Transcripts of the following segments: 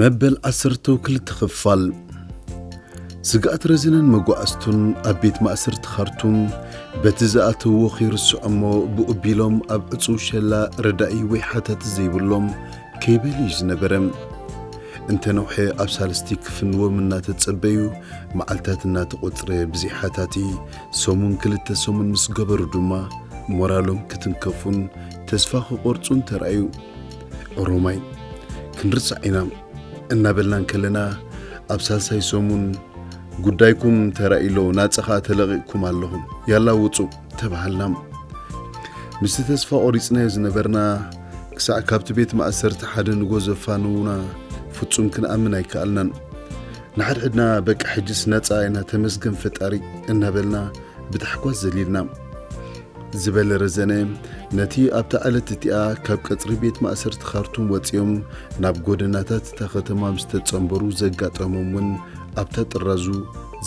መበል ዓሰርተው ክልተ ክፋል ስግኣት ረዚንን መጓዕዝቱን ኣብ ቤት ማእሰርቲ ኻርቱም በቲ ዝኣተውዎ ኺርስዖ እሞ ብኡ ኣቢሎም ኣብ ዕጹው ሸላ ረዳኢ ወይ ሓታቲ ዘይብሎም ከይበሉ እዩ ዝነበረ። እንተ ነውሐ ኣብ ሳልስቲ ክፍንዎም እናተጸበዩ መዓልታት እናተቖጽረ ብዘይ ሓታቲ ሰሙን ክልተ ሰሙን ምስ ገበሩ ድማ ሞራሎም ክትንከፉን ተስፋ ኽቖርጹን ተራእዩ። ኦሮማይ ክንርሳዕ ኢና እናበልና እንከለና ኣብ ሳልሳይ ሰሙን ጉዳይኩም ተራኢሎ ናፀኻ ተለቒቕኩም ኣለኹም ያላ ውፁ ተባሃልና ምስቲ ተስፋ ቆሪፅናዮ ዝነበርና ክሳዕ ካብቲ ቤት ማእሰርቲ ሓደ ንጎ ዘፋንዉና ፍጹም ክንኣምን ኣይከኣልናን ንሓድሕድና በቃ ሕጅስ ነፃ ኢና ተመስገን ፈጣሪ እናበልና ብታሕጓስ ዘሊልና ዝበለ ረዘነ፣ ነቲ ኣብታ ዕለት እቲኣ ካብ ቀጽሪ ቤት ማእሰርቲ ካርቱም ወጺኦም ናብ ጎደናታት እታ ከተማ ምስ ተጸንበሩ ዘጋጠሞም እውን ኣብታ ጥራዙ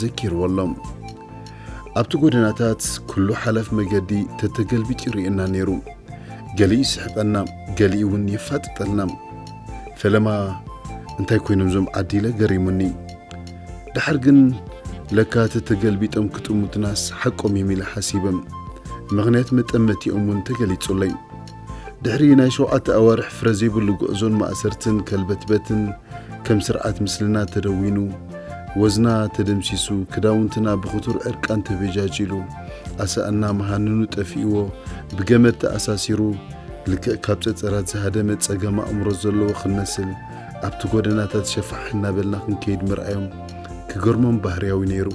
ዘኪርዎ ኣሎ። ኣብቲ ጎደናታት ኩሉ ሓላፍ መገዲ ተተገልቢጡ ይርእየና ነይሩ። ገሊኡ ይስሕቀና፣ ገሊኡ እውን የፋጥጠልና። ፈለማ እንታይ ኮይኖም እዞም ዓዲለ ገሪሙኒ። ድሓር ግን ለካ እቲ ተገልቢጦም ክጥምቱናስ ሓቆም እዮም ኢለ ሓሲበ። ምኽንያት መጠመቲኦም እውን ተገሊጹለይ። ድሕሪ ናይ ሸውዓተ ኣዋርሕ ፍረ ዘይብሉ ጉዕዞን ማእሰርትን ከልበትበትን ከም ስርዓት ምስልና ተደዊኑ፣ ወዝና ተደምሲሱ፣ ክዳውንትና ብኽቱር ዕርቃን ተበጃጂሉ፣ ኣሳእና መሃንኑ ጠፊእዎ ብገመድ ተኣሳሲሩ ልክዕ ካብ ጸጸራት ዝሃደመ ጸገም ኣእምሮ ዘለዎ ክንመስል ኣብቲ ጎደናታት ሸፋሕ እናበልና ክንከይድ ምርኣዮም ክገርሞም ባህርያዊ ነይሩ።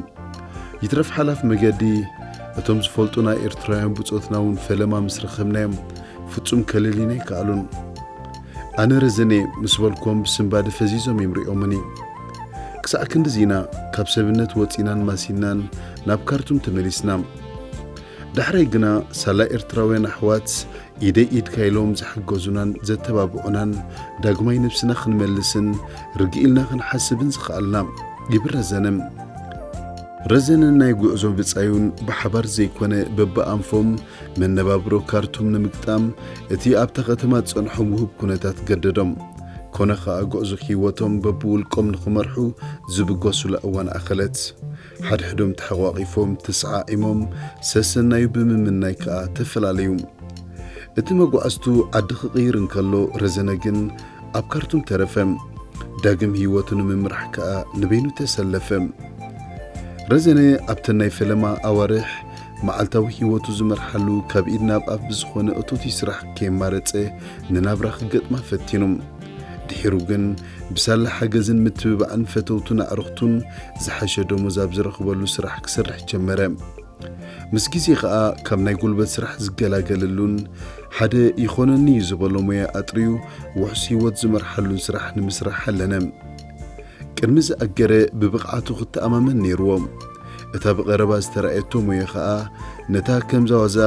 ይትረፍ ሓላፍ መገዲ እቶም ዝፈልጡና ኤርትራውያን ብጾትና እውን ፈለማ ምስ ረኸብናዮም ፍጹም ከለልዩና ኣይከኣሉን። ኣነ ረዘነ ምስ በልኮም ብስንባደ ፈዚዞም እዮም ሪኦምኒ። ክሳዕ ክንድዚ ኢና ካብ ሰብነት ወጺናን ማሲናን ናብ ካርቱም ተመሊስና። ዳሕራይ ግና ሳላ ኤርትራውያን ኣሕዋት ኢደይ ኢድካ ኢሎም ዝሓገዙናን ዘተባብዑናን ዳግማይ ነብስና ክንመልስን ርግእ ኢልና ክንሓስብን ዝኸኣልና ይብል ረዘነ። ረዘነን ናይ ጉዕዞ ብጻዩን ብሓባር ዘይኮነ በብኣንፎም መነባብሮ ካርቱም ንምግጣም እቲ ኣብታ ከተማ ዝጸንሖም ውሁብ ኩነታት ገደዶም። ኮነ ከኣ ጉዕዞ ህይወቶም በብውልቆም ንኽመርሑ ዝብገሱላ እዋን ኣኸለት። ሓድሕዶም ተሐቋቒፎም ተሰዓዒሞም ሰሰናዩ ብምምናይ ከኣ ተፈላለዩ። እቲ መጓዕዝቱ ዓዲ ክቕይር እንከሎ ረዘነ ግን ኣብ ካርቱም ተረፈ። ዳግም ህይወቱ ንምምራሕ ከኣ ንበይኑ ተሰለፈ። ረዘነ ኣብተን ናይ ፈለማ ኣዋርሕ መዓልታዊ ህይወቱ ዝመርሓሉ ካብ ኢድ ናብ ኣፍ ብዝኾነ እቶትይ ስራሕ ከየማረጸ ንናብራ ክገጥማ ፈቲኑ። ድሒሩ ግን ብሳላ ሓገዝን ምትብባዕን ፈተውቱን ኣዕርኽቱን ዝሓሸ ደሞዝ ኣብ ዝረኽበሉ ስራሕ ክሰርሕ ጀመረ። ምስ ግዜ ከኣ ካብ ናይ ጉልበት ስራሕ ዝገላገለሉን ሓደ ይኾነኒ እዩ ዝበሎ ሞያ ኣጥርዩ ውሑስ ህይወት ዝመርሓሉን ስራሕ ንምስራሕ ኣለነ። ቅድሚ ዝኣገረ ብብቕዓቱ ክተኣማመን ነይርዎ። እታ ብቐረባ ዝተራእየቶ ሞያ ከኣ ነታ ከምዛ ዋዛ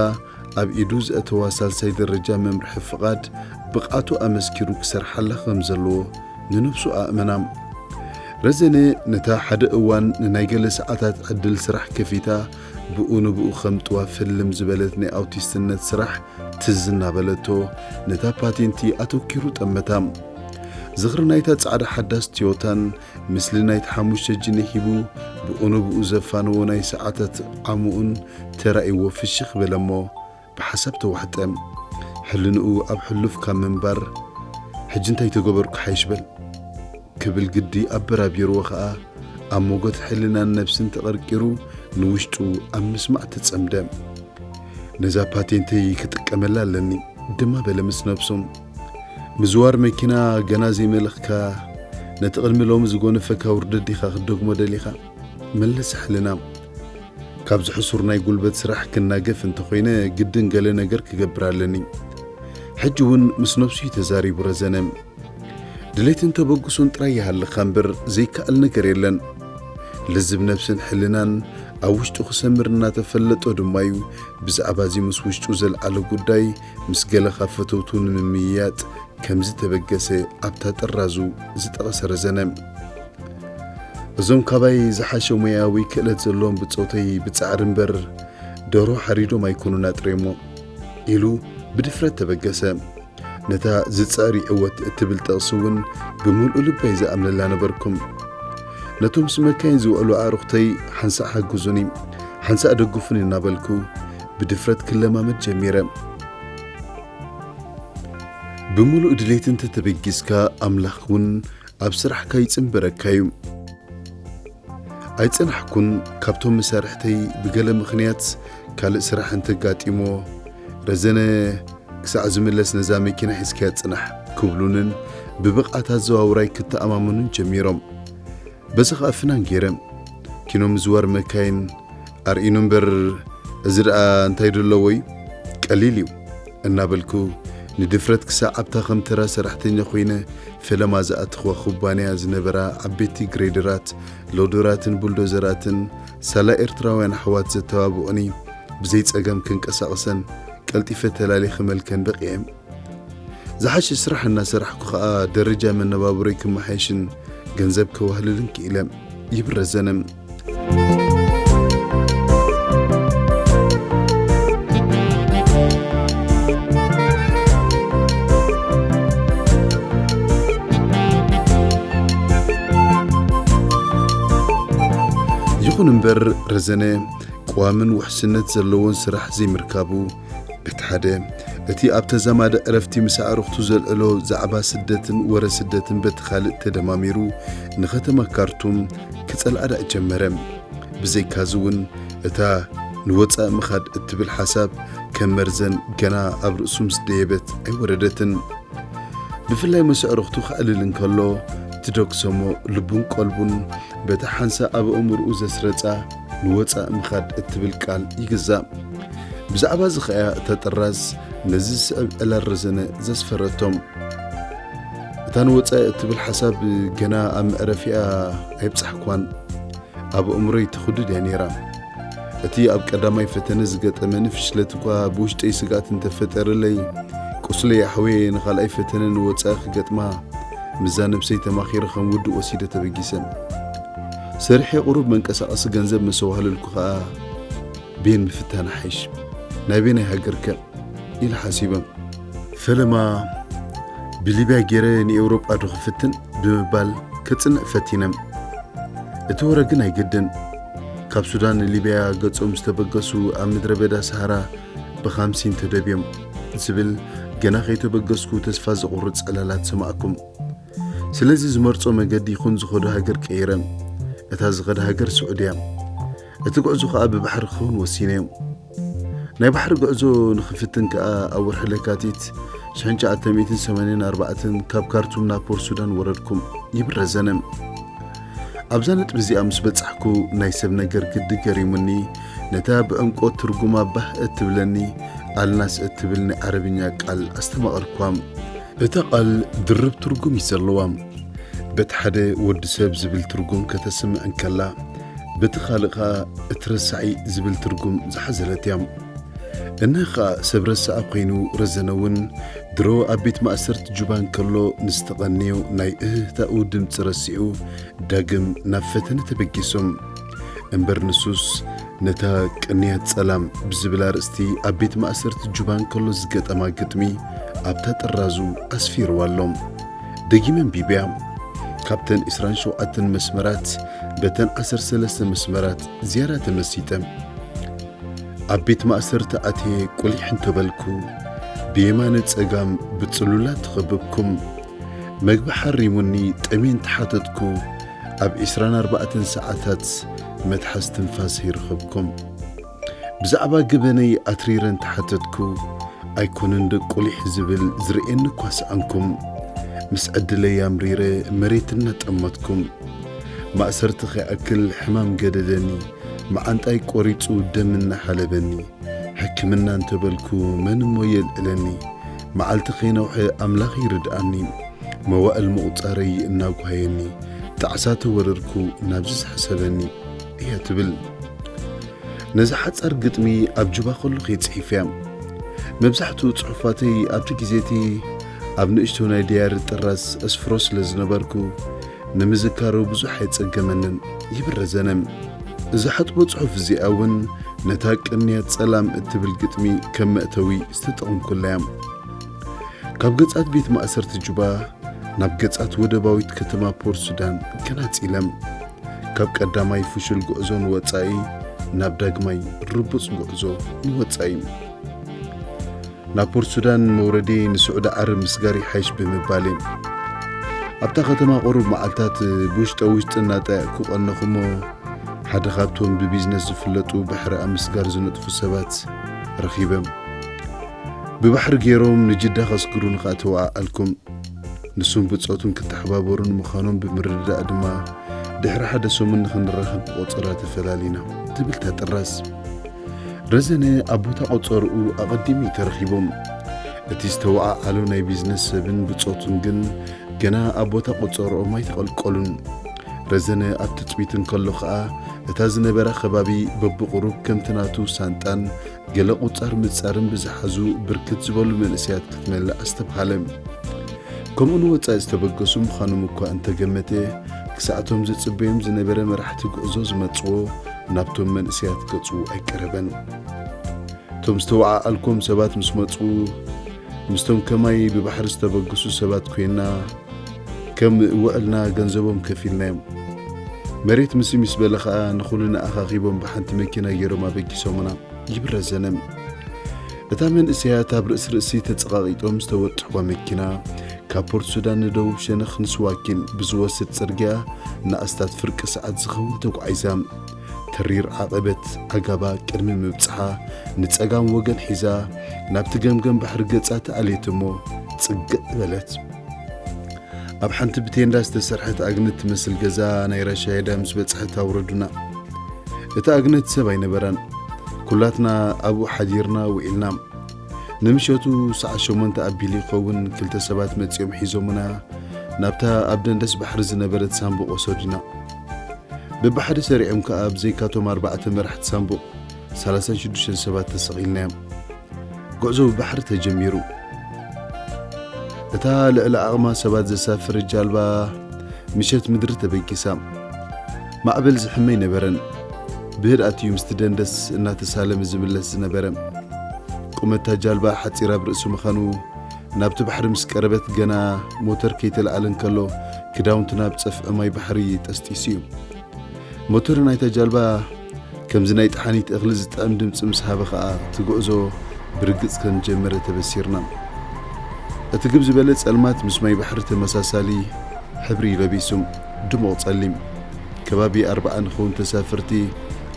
ኣብ ኢዱ ዘእተዋ ሳልሳይ ደረጃ መምርሒ ፍቓድ ብቕዓቱ ኣመስኪሩ ክሰርሓላ ከም ዘለዎ ንነብሱ ኣእመና። ረዘነ ነታ ሓደ እዋን ንናይ ገለ ሰዓታት ዕድል ስራሕ ከፊታ ብኡ ንብኡ ከም ጥዋፍ ህልም ዝበለት ናይ ኣውቲስትነት ስራሕ ትዝ እናበለቶ ነታ ፓቴንቲ ኣተኪሩ ጠመታ። ዝኽሪ ናይታ ጻዕዳ ሓዳስ ትዮታን ምስሊ ናይቲ ሓሙሽተ ጅንሕ ሂቡ ብቕኑብኡ ዘፋነዎ ናይ ሰዓታት ዓሙኡን ተራእይዎ ፍሽኽ በለ'ሞ ብሓሳብ ተዋሕጠ። ሕልንኡ ኣብ ሕሉፍ ካብ ምንባር ሕጂ እንታይ ተገበርኩ ሓይሽ በል ክብል ግዲ ኣበራቢርዎ ከኣ ኣብ ሞጎት ሕልናን ነብስን ተቐርቂሩ ንውሽጡ ኣብ ምስማዕ ተጸምደ። ነዛ ፓቴንተይ ክጥቀመላ ኣለኒ ድማ በለ ምስ ነብሱ። ምዝዋር መኪና ገና ዘይመለኽካ ነቲ ቅድሚ ሎሚ ዝጎነፈካ ውርደት ዲኻ ክትደግሞ ደሊኻ? መለስ ሕልናም ካብዚ ሕሱር ናይ ጉልበት ስራሕ ክናገፍ እንተኾይነ ግድን ገለ ነገር ክገብር ኣለኒ። ሕጂ ውን ምስ ነብሱ እዩ ተዛሪቡ ረዘነ። ድሌትን ተበግሶን ጥራይ ይሃልኻ እምበር ዘይከኣል ነገር የለን። ልዝብ ነብስን ሕልናን ኣብ ውሽጡ ክሰምር እናተፈለጦ ድማዩ ብዛዕባ እዚ ምስ ውሽጡ ዘልዓሎ ጉዳይ ምስ ገለ ካብ ፈተውቱ ንምምይያጥ ከም ዝተበገሰ ኣብታ ጥራዙ ዝጠቐሰ ረዘነ፣ እዞም ካባይ ዝሓሸ ሞያ ወይ ክእለት ዘለዎም ብጾተይ ብጻዕሪ እምበር ደርሆ ሓሪዶም ኣይኮኑን ኣጥርዮሞ ኢሉ ብድፍረት ተበገሰ። ነታ ዝጽዕር ይዕወት እትብል ጥቕሲ እውን ብምልኡ ልበይ ዝኣምነላ ነበርኩም። ነቶም ምስ መካይን ዝውዕሉ ኣዕሩኽተይ ሓንሳእ ሓግዙኒ፣ ሓንሳእ ደግፉኒ እናበልኩ ብድፍረት ክለማመድ ጀሚረ። ብምሉእ ድሌት እንተተበጊስካ ኣምላኽ እውን ኣብ ስራሕካ ይጽንበረካ እዩ። ኣይጸናሕኩን፣ ካብቶም መሳርሕተይ ብገለ ምኽንያት ካልእ ስራሕ እንተጋጢሞ ረዘነ ክሳዕ ዝምለስ ነዛ መኪና ሒዝካያ ጽናሕ ክብሉንን ብብቕዓት ኣዘዋውራይ ክተኣማመኑን ጀሚሮም። በዚ ኸኣ ፍናን ጌረን ኪኖ ምዝዋር መካይን ኣርእዩኒ እምበር እዚ ደኣ እንታይ ዶ ኣለዎ እዩ ቀሊል እዩ እናበልኩ ንድፍረት ክሳዕ ኣብታ ከም ተራ ሰራሕተኛ ኮይነ ፈለማ ዝኣተኽዋ ኩባንያ ዝነበራ ዓበይቲ ግሬደራት ሎደራትን ቡልዶዘራትን ሳላ ኤርትራውያን ኣሕዋት ዘተባብዑኒ ብዘይ ጸገም ክንቀሳቕሰን ቀልጢፈ ተላልየ ክመልከን በቒዐ። ዝሓሸ ስራሕ እናሰራሕኩ ከኣ ደረጃ መነባብሮይ ክመሓየሽን ገንዘብ ከዋህልልን ክኢለ ይብል ረዘነ። ይኹን እምበር ረዘነ ቀዋምን ውሕስነት ዘለዎን ስራሕ ዘይምርካቡ በቲ ሓደ እቲ ኣብ ተዛማደ ዕረፍቲ ምስ ኣዕሩኽቱ ዘልዕሎ ዛዕባ ስደትን ወረ ስደትን በቲ ካልእ ተደማሚሩ ንኸተማ ካርቱም ክጸልኣ ደኣ ጀመረ። ብዘይካዚ እውን እታ ንወጻኢ ምኻድ እትብል ሓሳብ ከም መርዘን ገና ኣብ ርእሱ ምስ ደየበት ኣይወረደትን። ብፍላይ ምስ ኣዕሩኽቱ ከዕልል እንከሎ ትደግሰሞ ልቡን ቀልቡን በታ ሓንሳእ ኣብ ኣእምሮኡ ዘስረጻ ንወፃእ ምኻድ እትብል ቃል ይግዛእ። ብዛዕባ እዚ ኸኣ እታ ጥራዝ ነዚ ዝስዕብ ዕላል ረዘነ ዘስፈረቶም። እታ ንወፃኢ እትብል ሓሳብ ገና ኣብ መዕረፊኣ ኣይብጻሕኳን። ኣብ ኣእምሮይ ተኹድድ እያ ነይራ። እቲ ኣብ ቀዳማይ ፈተነ ዝገጠመኒ ፍሽለት እኳ ብውሽጠይ ስግኣት እንተፈጠረለይ ቁስለይ ኣሕወየ ንኻልኣይ ፈተነ ንወፃኢ ክገጥማ ምዛ ነብሰይ ተማኺረ ከም ውዱእ ወሲደ ተበጊሰ። ሰሪሐ ቁሩብ መንቀሳቐሲ ገንዘብ ምስ ኣዋህለልኩ ከኣ ቤን ምፍታን ኣሓይሽ ናበየናይ ሃገርከ ኢለ ሓሲበ ፈለማ ብሊብያ ገይረ ንኤውሮጳ ዶ ክፍትን ብምባል ከጽንዕ ፈቲነ እቲ ወረ ግን ኣይገደን ካብ ሱዳን ንሊብያ ገጾም ዝተበገሱ ኣብ ምድረ በዳ ሰሃራ ብኻምሲን ተደብዮም ዝብል ገና ከይተበገስኩ ተስፋ ዘቑርጽ ዕላላት ሰማዕኩም ስለዚ ዝመርጾ መገዲ ይኹን ዝኸዶ ሃገር ቀይረን። እታ ዝኸዳ ሃገር ስዑድያ። እቲ ጉዕዞ ከኣ ብባሕሪ ክኸውን ወሲነዮም። ናይ ባሕሪ ጉዕዞ ንኽፍትን ከኣ ኣብ ወርሒ ለካቲት 1984 ካብ ካርቱም ናብ ፖር ሱዳን ወረድኩም ይብል ረዘነ። ኣብዛ ነጥቢ እዚኣ ምስ በጻሕኩ ናይ ሰብ ነገር ግዲ ገሪሙኒ ነታ ብዕምቆት ትርጉማ ባህ እትብለኒ ኣልናስ እትብል ናይ ዓረብኛ ቃል ኣስተማቐርኳ። እታ ቓል ድርብ ትርጉም እዩ ዘለዋ። በቲ ሓደ ወዲ ሰብ ዝብል ትርጉም ከተስምዕ እንከላ፣ በቲ ካልእ ከኣ እቲ ረሳዒ ዝብል ትርጉም ዝሓዘለት እያ። እነሀ ከኣ ሰብ ረሳዐ ኮይኑ ረዘነ እውን ድሮ ኣብ ቤት ማእሰርቲ ጁባ እንከሎ ንዝተቐንዮ ናይ እህህታኡ ድምጺ ረሲዑ ዳግም ናብ ፈተነ ተበጊሱ። እምበር ንሱስ ነታ ቅንያት ጸላም ብዝብል ኣርእስቲ ኣብ ቤት ማእሰርቲ ጁባ እንከሎ ዝገጠማ ግጥሚ ኣብታ ጥራዙ ኣስፊርዋ ኣሎ ደጊመ ኣንቢብያ ካብተን 27 መስመራት በተን 13 መስመራት ዝያዳ ተመሲጠ ኣብ ቤት ማእሰርቲ ኣትየ ቁሊሕ እንተበልኩ ብየማነ ጸጋም ብጽሉላት ተኸብብኩም መግቢ ሓሪሙኒ ጠሜን ተሓተትኩ ኣብ ዕስራን ኣርባዕተን ሰዓታት መትሓዝ ትንፋስ ይርኽብኩም። ብዛዕባ ገበነይ ኣትሪረ እንተሓተትኩ፣ ኣይኮነን ዶ ቁሊሕ ዝብል ዝርእየኒ እኳ ሰኣንኩም። ምስ ዕድለይ ኣምሪረ መሬት እናጠመትኩም። ማእሰርቲ ከይኣክል ሕማም ገደደኒ፣ መዓንጣይ ቆሪጹ ደም እናሓለበኒ። ሕክምና እንተበልኩ መን እሞ የልዕለኒ፣ መዓልቲ ከይነውሐ ኣምላኽ ይርድኣኒ። መዋእል ምቑጻረይ እናጓየኒ ጣዕሳ ተወረርኩ ናብዚ ዝሐሰበኒ እያ ትብል ነዛ ሓጻር ግጥሚ ኣብ ጁባ ከሎኹ'የ ጽሒፈያ መብዛሕትኡ ጽሑፋተይ ኣብቲ ግዜ'ቲ ኣብ ንእሽቶ ናይ ደያሪ ጥራዝ እስፍሮ ስለ ዝነበርኩ ንምዝካሩ ብዙሕ ኣይጸገመንን ይብል ረዘነ እዛ ሕጥቦ ጽሑፍ እዚኣ ውን ነታ ቅንያት ጸላም እትብል ግጥሚ ከም መእተዊ ዝተጠቕምኩላ እያም። ካብ ገጻት ቤት ማእሰርቲ ጁባ ናብ ገጻት ወደባዊት ከተማ ፖርት ሱዳን ገናጺለም። ካብ ቀዳማይ ፍሹል ጉዕዞ ንወጻኢ ናብ ዳግማይ ርቡጽ ጉዕዞ ንወጻኢ። ናብ ፖርት ሱዳን መውረዴ ንስዑዲ ዓረብ ምስጋር ይሓይሽ ብምባል እየ። ኣብታ ከተማ ቁሩብ መዓልታት ብውሽጠ ውሽጢ እናጣየቕኩ ቀነኹ እሞ ሓደ ካብቶም ብቢዝነስ ዝፍለጡ ባሕሪ ኣብ ምስጋር ዝነጥፉ ሰባት ረኺበም ብባሕሪ ገይሮም ንጅዳ ከስግሩን ኸኣ ተወዓኣልኩም። ንሱን ብጾቱን ክተሓባበሩን ምዃኖም ብምርድዳእ ድማ ድሕሪ ሓደ ሰሙን ንኽንራኸብ ብቆጸራ ተፈላሊና ትብል ታጥራስ። ረዘነ ኣብ ቦታ ቆጸርኡ ኣቐዲሙ እዩ ተረኺቦም። እቲ ዝተወዓዓሎ ናይ ቢዝነስ ሰብን ብጾቱን ግን ገና ኣብ ቦታ ቆጸርኦም ኣይተቐልቀሉን። ረዘነ ኣብ ትጽቢት እንከሎ ኸኣ እታ ዝነበራ ከባቢ በብቑሩብ ከምቲ ናቱ ሳንጣን ገለ ቁጻር ምጻርን ብዝሓዙ ብርክት ዝበሉ መንእሰያት ክትመልእ ኣስተብሃለ። ከምኡ ንወጻኢ ዝተበገሱ ምዃኖም እኳ እንተገመተ ክሳዕቶም ዝጽበዮም ዝነበረ መራሕቲ ጉዕዞ ዝመጽዎ ናብቶም መንእሰያት ገጹ ኣይቀረበን። እቶም ዝተወዓዓልኩም ሰባት ምስ መጹ ምስቶም ከማይ ብባሕሪ ዝተበግሱ ሰባት ኮይና ከም ውዕልና ገንዘቦም ከፊልናዮም። መሬት ምስ ምስ በለ ኸኣ ንኹልና ኣኻኺቦም ብሓንቲ መኪና ገይሮም ኣበጊሶምና ይብል ረዘነ። እታ መንእሰያት ኣብ ርእሲ ርእሲ ተጸቓቒጦም ዝተወጥሕዋ መኪና ካብ ፖርት ሱዳን ንደቡብ ሸነኽ ንስዋኪን ብዝወስድ ጽርግያ ንኣስታት ፍርቂ ሰዓት ዝኸውን ተጓዒዛ። ተሪር ዓቐበት ኣጋባ ቅድሚ ምብጽሓ ንጸጋም ወገን ሒዛ ናብቲ ገምገም ባሕሪ ገጻ ተኣልየት እሞ ጽግዕ በለት። ኣብ ሓንቲ ብቴንዳ ዝተሰርሐት ኣግነት ትመስል ገዛ ናይ ራሻየዳ ምስ በጽሐት ኣውረዱና። እቲ ኣግነት ሰብ ኣይነበረን። ኩላትና ኣብኡ ሓዲርና ውዒልና። ንምሸቱ ሰዓት ሸሞንተ ኣቢሉ ይኸውን ክልተ ሰባት መጺኦም ሒዞምና ናብታ ኣብ ደንደስ ባሕሪ ዝነበረት ሳንቡቕ ወሰዱና። በብሓደ ሰሪዖም ከኣ ብዘይካቶም ኣርባዕተ መራሕቲ ሳንቡቕ ሰላሳን ሽዱሽተን ሰባት ተሰቒልናዮም ጉዕዞ ብባሕሪ ተጀሚሩ እታ ልዕሊ ዓቕማ ሰባት ዘሳፍር ጃልባ ምሸት ምድሪ ተበጊሳ ማዕበል ዝሕመ ኣይነበረን ብህድኣት እዩ ምስቲ ደንደስ እናተሳለመ ዝምለስ ዝነበረ ቁመታ ጃልባ ሓፂር ኣብ ርእሲ ምዃኑ ናብቲ ባሕሪ ምስ ቀረበት ገና ሞተር ከይተላዕለ እንከሎ ክዳውንቲ ናብ ጸፍዒ ማይ ባሕሪ ጠስጢሱ እዩ። ሞተር ናይታ ጃልባ ከምዚ ናይ ጠሓኒት እኽሊ ዝጥዕም ድምፂ ምስ ሃበ ኸኣ እቲ ጉዕዞ ብርግጽ ከም ዝጀመረ ተበሲርና። እቲ ግብ ዝበለ ጸልማት ምስ ማይ ባሕሪ ተመሳሳሊ ሕብሪ ለቢሱ ድሙቕ ጸሊም ከባቢ ኣርባዓ ንኸውን ተሳፈርቲ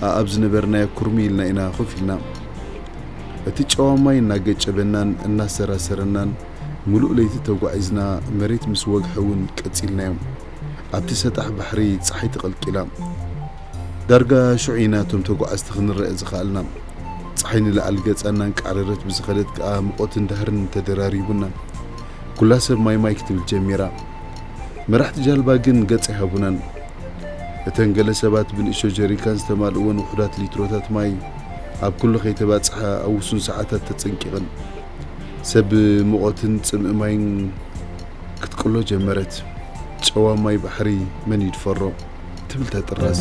ኣኣብ ዝነበርናዮ ኩርሙይ ኢልና ኢና ኮፍ ኢልና። እቲ ጨዋ ማይ እናገጨበናን እናሰራሰረናን ምሉእ ለይቲ ተጓዒዝና መሬት ምስ ወግሐ እውን ቀጺልናዮም። ኣብቲ ሰጣሕ ባሕሪ ጸሓይ ተቐልቂላ። ዳርጋ ሽዑ ኢና እቶም ተጓዓዝቲ ክንረኣ ዝኸኣልና። ጸሓይ ንላዕሊ ገጻ እናንቃዕረረት ብዝኸደት ከኣ ምቖትን ዳህርን ተደራሪቡና። ኩላ ሰብ ማይ ማይ ክትብል ጀሚራ። መራሕቲ ጃልባ ግን ገጽ ኣይሃቡናን። እተን ገለ ሰባት ብንእሽቶ ጀሪካን ዝተማልእወን ውሑዳት ሊትሮታት ማይ ኣብ ኩሉ ከይተባጽሓ ኣብ ውሱን ሰዓታት ተጸንቂቐን፣ ሰብ ብሙቐትን ጽምኢ ማይን ክትቅሎ ጀመረት። ጨዋ ማይ ባሕሪ መን ይድፈሮ? ትብል ተጥራዝ።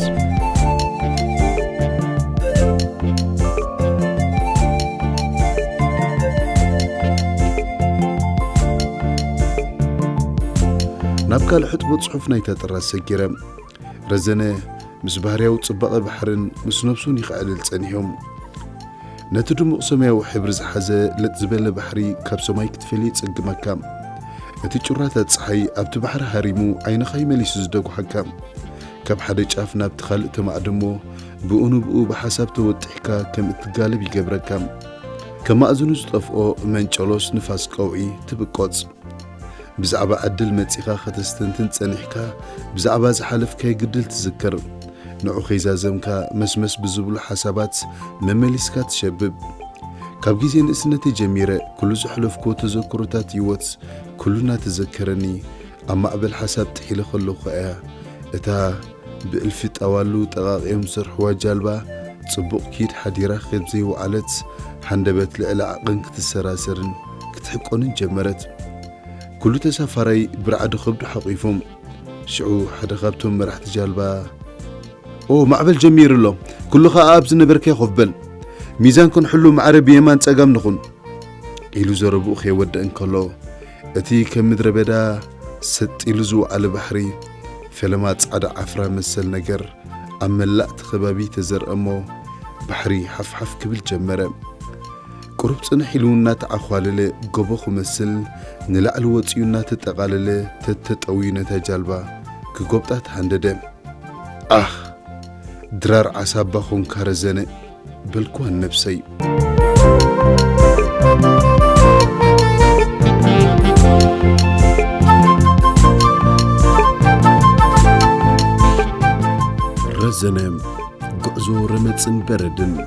ናብ ካልእ ሕጥቦ ጽሑፍ ናይታ ክጥረዝ ሰጊረ። ረዘነ ምስ ባህርያዊ ጽባቐ ባሕርን ምስ ነብሱን ይኸዕልል ጸኒሑ። ነቲ ድሙቕ ሰማያዊ ሕብሪ ዝሓዘ ለጥ ዝበለ ባሕሪ ካብ ሰማይ ክትፈልይ ይጽግመካ። እቲ ጩራታት ጸሓይ ኣብቲ ባሕሪ ሃሪሙ ዓይንኻ ይመሊሱ ዝደጉሓካ። ካብ ሓደ ጫፍ ናብቲ ካልእ ተማዕድሞ ብኡ ንብኡ ብሓሳብ ተወጢሕካ ከም እትጋለብ ይገብረካ። ከም ማእዝኑ ዝጠፍኦ መንጨሎስ ንፋስ ቀውዒ ትብቆጽ። ብዛዕባ ዕድል መጺኻ ከተስተንትን ጸኒሕካ ብዛዕባ ዝሓለፍካዮ ግድል ትዝክር ንዑ ከይዛዘምካ መስመስ ብዝብሉ ሓሳባት መመሊስካ ትሸብብ ካብ ግዜ ንእስነተይ ጀሚረ ኩሉ ዘሕለፍኩዎ ተዘክሮታት ህይወት ኩሉና ተዘከረኒ ኣብ ማዕበል ሓሳብ ጥሒለ ከለኹ እያ እታ ብእልፊ ጣዋሉ ጠቓቒዮም ዝሰርሕዋ ጃልባ ጽቡቕ ኪድ ሓዲራ ከብ ዘይወዓለት ሃንደበት ልዕሊ ዓቕን ክትሰራሰርን ክትሕቆንን ጀመረት። ኩሉ ተሳፋራይ ብራዕዲ ከብዱ ሓቚፎም። ሽዑ ሓደ ካብቶም መራሕቲ ጃልባ ኦ ማዕበል ጀሚሩ ኣሎ፣ ኩሉ ከኣ ኣብ ዝነበርካዮ ኮፍ በል፣ ሚዛን ክንሕሉ ማዕረ ብየማን ጸጋም ንኹን ኢሉ ዘረብኡ ከይወድእ እንከሎ እቲ ከም ምድረ በዳ ሰጥ ኢሉ ዝወዓለ ባሕሪ ፈለማ ጻዕዳ ዓፍራ መሰል ነገር ኣብ መላእ እቲ ከባቢ ተዘርአ እሞ ባሕሪ ሓፍሓፍ ክብል ጀመረ። ቁሩብ ጽንሕ ኢሉ እናተዓዃለለ ጎቦ ክመስል ንላዕሊ ወጺኡ እናተጠቓለለ ተተጠውዩ ነታ ጃልባ ክጎብጣ ተሃንደደ። ኣኽ! ድራር ዓሳ እባ ኾንካ ረዘነ! በልክዋ ንነብሰይ። ረዘነ! ጉዕዞ ረመጽን በረድን!